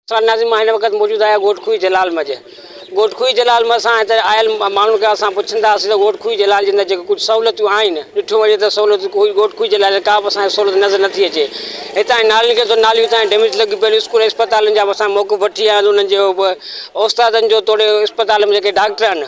سان ناظم مان هن وقت موجود آهيان ڳوٺ کوهي جلال مجه ڳوٺ کوهي جلال مجه سان هتي آيل ماڻهن کان اسان پڇندا هئاسين ته ڳوٺ کوهي جلال جي اندر جيڪي ڪجهه سهولتون آهن ڏٺو وڃي ته سهولتون ڪوئي ڳوٺ کوهي جلال جي ڪا به اسان کي سهولت نظر نٿي اچي هتان جي نالين کي تو ناليون هتان جي ڊيميج لڳي پيل اسڪول ۽ اسپتالن جا به اسان موقف وٺي آيا آهيون انهن جي اوستادن جو توڙي اسپتال ۾ جيڪي ڊاڪٽر آهن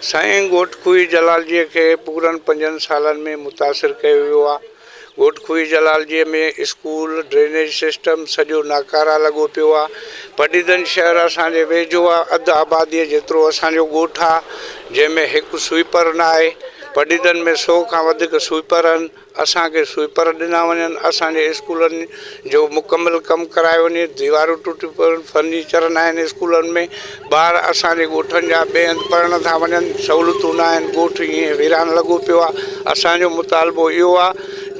سائين گهوٽ کوهي جلالجيء کي پورن پنجن سالن ۾ متاثر ڪيو ويو آ. گهوٽ کوهي جلالجيء ۾ اسڪول، ڊرينيج سسٽم سڄو ناڪاره لڳو پيو آ. پڊيدن شهر اسان جي ويجهو آ. اڌ آباديء جيترو اسان جو ڳوٺ آ، جنهن ۾ هڪ سوئيپر ناهي. پڊيدن ۾ سو کان وڌيڪ سوئيپر هن. اسان کي سوئيپر ڏنا وڃن، اسان جي اسڪولن جو مڪمل ڪم ڪرايو وڃي، ديوارون ٽٽيون پيون، فرنيچر ناهن اسڪولن ۾، ٻار اسان جي ڳوٺن جا ٻئي هنڌ پڙهڻ ٿا وڃن، سهولتون ناهن، ڳوٺ ائين ويران لڳو پيو آهي، اسان جو مطالبو اهو آهي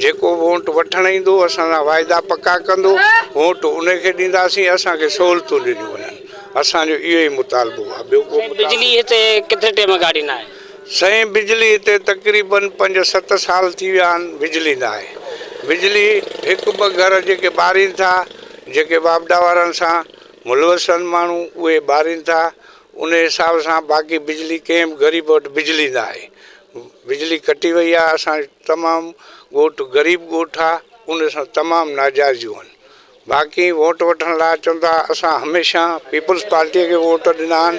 جيڪو وونٽ وٺڻ ايندو اسان سان واعدا پڪا ڪندو وونٽ انهي کي ڏينداسين، اسان کي سهولتون ڏنيون وڃن، اسان جو اهو ئي مطالبو آهي، ٻيو ڪو مطالبو ناهي. سائين بجلي هتي تقريباً پنج ست سال ٿي ويا آهن بجلي ناهي بجلي هڪ ٻه گهر جيڪي ٻارين ٿا جيڪي واپڊا وارن سان ملوث آهن ماڻهو اهي ٻارين ٿا انهي حساب سان باقي بجلي ڪنهن به غريب وٽ بجلي ناهي بجلي ڪٽي وئي آهي اسان تمام ڳوٺ غريب ڳوٺ آهي ان سان تمام ناجائزيون آهن باقي ووٽ وٺڻ لاء اچن ٿا اسان هميشه پيپلز پارٽي کي ووٽ ڏنا آهن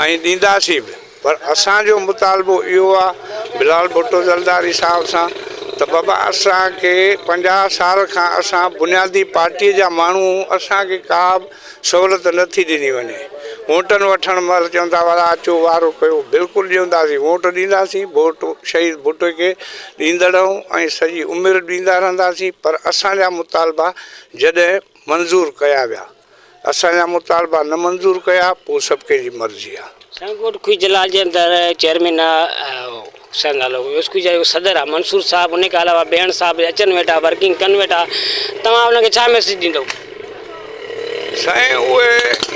۽ ڏينداسين به پر اسان جو مطالبو اهو آهي بلال ڀٽو زرداري صاحب سان ته بابا اسان کي پنجاهه سال کان اسان بنيادي پارٽي جا ماڻهو آهيون اسان کي ڪا به سهولت نه ٿي ڏني وڃي ووٽن وٺڻ مهل چون ٿا وارا اچو وارو ڪيو بلڪل ڏينداسين ووٽ ڏينداسين ووٽ شهيد ڀٽو کي ڏيندڙ ۽ سڄي عمر ڏيندا رهنداسين پر اسان جا مطالبا جڏهن منظور ڪيا ويا اسان جا مطالبا نه منظور ڪيا پوء سڀ ڪنهن جي مرضي آ. سائين ڳوٺ کوهي جلال جي اندر چيئرمين آ سر نالو اسڪول جا جيڪو صدر آ منصور صاحب انهي کان علاوه بيهڻ صاحب اچن ويٺا ورڪنگ ڪن ويٺا توهان انهن کي ڇا ميسج ڏيندو. سائين اهي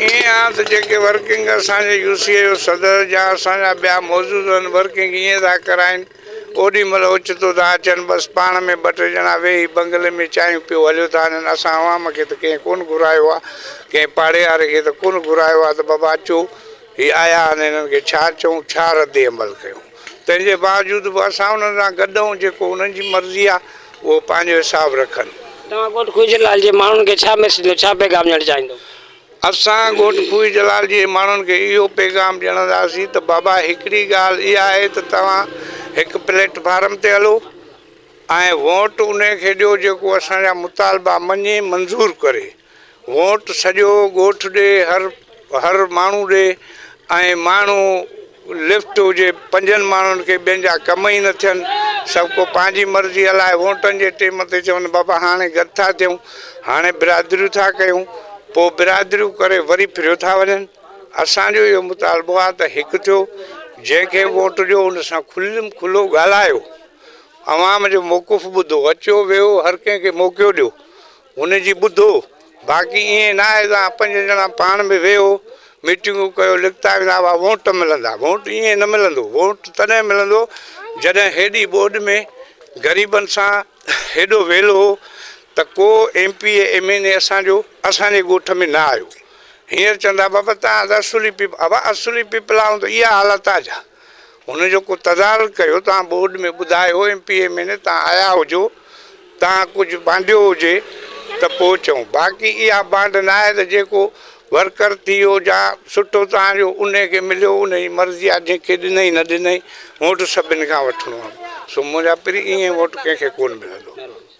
ائين آ ته جيڪي ورڪنگ اسان جي يو سي اي جو صدر جا اسان جا ٻيا موجود آهن ورڪنگ ائين ٿا ڪرائين اوڏي مھل اوچتو ٿا اچن، بس پاڻ ۾ ٻه ٽي ڄڻا ويھي بنگلي ۾ چانھيون پيو ھليو ٿا ھلن، اسان عوام کي ته ڪنھن ڪونھ گھرايو آ، ڪنھن پاڙيھاري کي ته ڪونھ گھرايو آ ته بابا اچو، ھي آيا آھن ھنن کي ڇا چئون، ڇا رد عمل ڪيون، تنھن جي باوجود به اسان انھن سان گڏ آھون، جيڪو انھن جي مرضي آ، اھو پنھنجو حساب رکن. توھان ڳوٺ ڪوئجھرلال جي ماڻھن کي ڇا ميسج ڏيو، ڇا پيغام ڏيڻ چاھيندؤ؟ اسان ڳوٺ ڪوهي جلال جي ماڻهن کي اهو پيغام ڄڻنداسين ته بابا هڪڙي ڳالهه اها آهي ته توهان هڪ پليٽ فارم تي هلو ۽ ووٽ انهي کي ڏيو جيڪو اسان جا مطالبا مڃي منظور ڪري ووٽ سڄو ڳوٺ ڏي هر هر ماڻهو ڏي ۽ ماڻهو لفٽ هجي، پنجن ماڻهن کي ٻين جا ڪم ئي نه ٿين، سڀ ڪو پنهنجي مرضي هلائي، ووٽن جي ٽيم تي چون بابا هاڻي گڏ ٿا ٿيون، هاڻي برادريون ٿا ڪيون، پوء برادريون ڪري وري ڦريو ٿا وڃن، اسان جو اهو مطالبو آهي ته هڪ ٿيو، جنهن کي ووٽ ڏيو ان سان کليم کلو ڳالهايو، عوام جو موقف ٻڌو، اچيو ويهو هر ڪنهن کي موقعو ڏيو، هن جي ٻڌو، باقي ائين نه آهي ته پنج ڄڻا پاڻ ۾ ويهو، ميٽنگون ڪيو، لکتا ويندا هئا، ووٽ ملندا. ووٽ ائين نه ملندو، ووٽ تڏهن ملندو جڏهن هيڏي ٻوڏ ۾ غريبن سان هيڏو ويلهه هو ته ڪو M P A M N A اسان جو اسان جي ڳوٺ ۾ نه آيو. هينئر چوندا بابا تان اصولي پيپل ابا اصولي پيپل آئون ته اها حالت آ جا. هن جو ڪو تدارڪ ڪيو توهان بورڊ ۾ ٻڌايو ايم پي اي ميني توهان آيا هجو توهان ڪجهه بانڊيو هجي ته پوء چئون باقي اها بانڊ ناهي ته جيڪو ورڪر ٿي ويو جا سٽو توهان جو انهي کي مليو ان جي مرضي آهي جنهن کي ڏنئي نه ڏنئي ووٽ سڀني کان وٺڻو آهي سو منهنجا پري ايئن ووٽ ڪنهن کي ڪونه ملندو